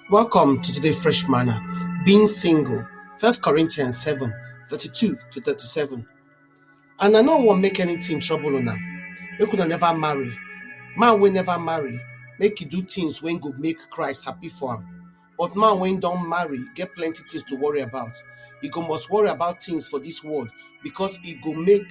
Welcome to today's Fresh Manna, being single, First Corinthians 7 32 to 37. And I no wan make anything trouble una. Make una never marry. Man wey never marry, make e do things wey go make Christ happy for am. But man wey don marry get plenty things to worry about. E go must worry about things for this world because e go make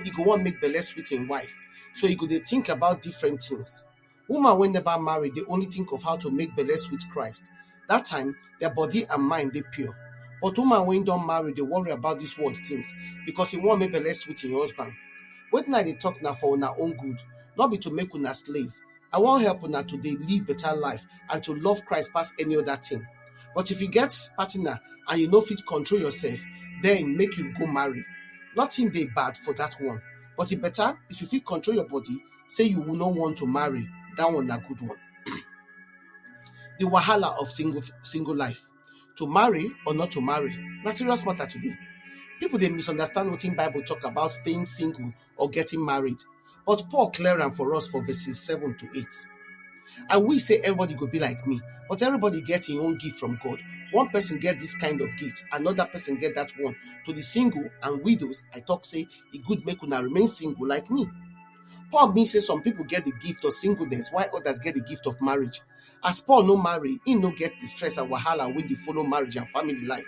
e go wan make belle sweet im wife. So e go dey think about different things. Woman wey never marry dey only think of how to make belle sweet Christ. That time, their body and mind dey pure. But woman wey don marry dey worry about this world things because e wan make belle sweet im husband. Wetin I dey talk na for una own good, no be to make una slave. I wan help una to dey live better life and to love Christ pass any other thing. But if you get partner and you no fit control yourself, then make you go marry. Nothing dey bad for that one, but e better if you fit control your body say you will not want to marry, that one na good one. the wahala of single single life, to marry or not to marry, na serious matter today. People dey misunderstand wetin Bible talk about staying single or getting married, but Paul clear am for us for verses seven to eight. I wish say everybody go be like me, but everybody get his own gift from God. One person get this kind of gift, another person get that one. To the single and widows, I talk say e good make una remain single like me. Paul bin say some pipo get di gift of singleness while odas get di gift of marriage. As Paul no marry, im no get di stress and wahala wey dey follow marriage and family life.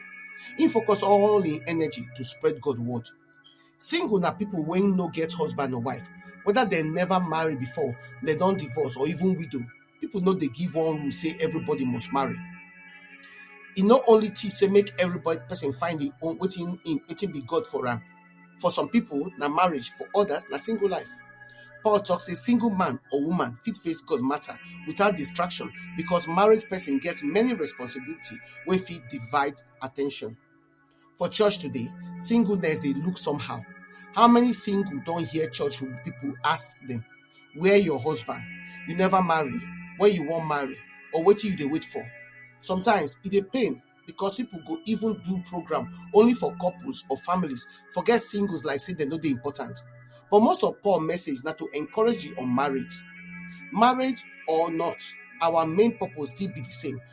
Im focus all im energy to spread God word. Single na pipo wey no get husband or wife, weda dem neva marry before, dem don divorce or even widow. people no dey give one rule say everybody must marry e no only teach say make everybody person find im own wetin im wetin be god for am for some people na marriage for others na single life paul talk say single man or woman fit face god matter without distraction because married person get many responsibility wey fit divide attention For church today, singleness dey look somehow. How many single don hear church people ask them, where your husband? You never marry, when you wan marry, or wetin you dey wait for? Sometimes e dey pain because people go even do program only for couples or families, forget singles like say dem no dey important. But most of Paul message na to encourage the unmarried. Marriage or not, our main purpose still be the same.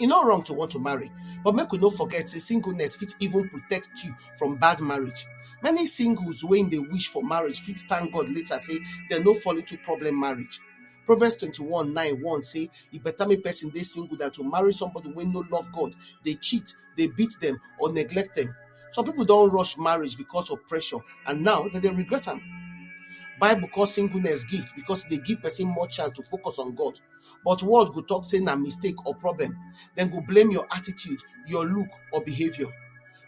E no wrong to want to marry, but make we no forget sey singleness fit even protect you from bad marriage. Many singles wey dey wish for marriage fit thank God later sey dem no fall into problem marriage. Proverbs twenty one nine warn sey e better make person dey single than to marry somebody wey no love God, dey cheat, dey beat dem or neglect dem. Some pipu don rush marriage because of pressure and now dem dey regret am. Bible call singleness gift because e dey give person more chance to focus on God. but world go talk say na mistake or problem dem go blame your attitude your look or behaviour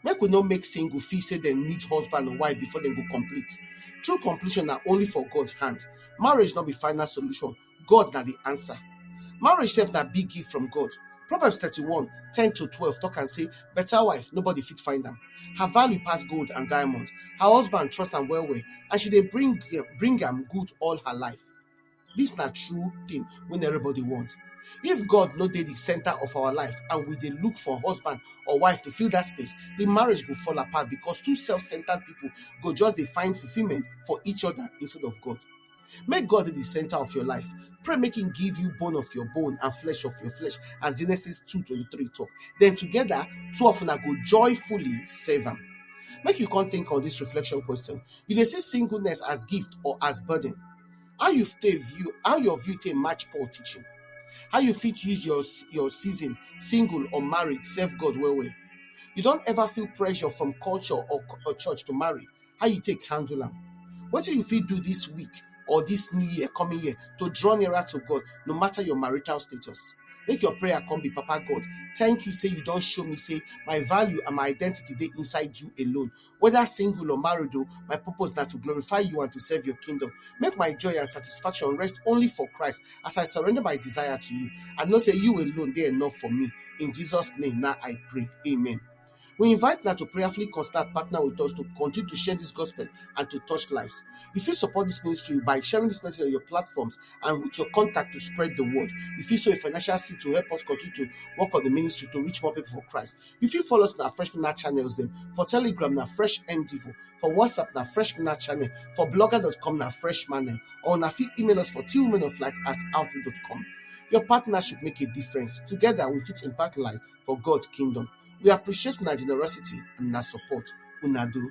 make we no make single feel say dem need husband or wife before dem go complete true completion na only for God hand marriage no be final solution God na the answer marriage sef na big gift from God Proverbs thirty-one ten to twelve talk am say better wife nobody fit find am her value pass gold and diamond her husband trust am well well and she dey bring bring am good all her life Dis na true tin wey everybody want. If God no dey di center of our life and we dey look for husband or wife to fill dat space, di marriage go fall apart because two self-centered pipo go just dey find fulfillment for each oda instead of God. Make God dey di center of your life, pray make im give you bone of your bone and flesh of your flesh as Genesis two twenty three tok, den togeda two of una go joyfully serve am. Make you come tink on dis reflection question, you dey see singleness as gift or as burden? How you take view how your view take match Paul teaching? How you fit use your your season, single or married, serve God well well? You don't ever feel pressure from culture or, or church to marry. How you take handle them? What do you feel do this week or this new year, coming year, to draw nearer to God, no matter your marital status? Make your prayer come be Papa God. Thank you, say you don't show me, say my value and my identity they inside you alone. whether single or married o my purpose na to glorify you and to serve your kingdom make my joy and satisfaction rest only for christ as i surrender my desire to you i know say you alone dey enough for me in jesus name na i pray amen we invite now to prayerfully consider partner with us to continue to share this gospel and to touch lives. You fit support this ministry by sharing this message on your platforms and with your contact to spread the word. You fit sow a financial seed to help us continue to work on the ministry to reach more people for Christ. You fit follow us na Fresh Minna channels dem. For Telegram na Fresh MDivo. For WhatsApp na Fresh Minna channel. For blogger.com na Fresh Manel. Or na fit email us for twowomenoflight at outlook.com. Your partnership make a difference. Together we fit impact life for God's kingdom. We appreciate una generosity and una support. Una do.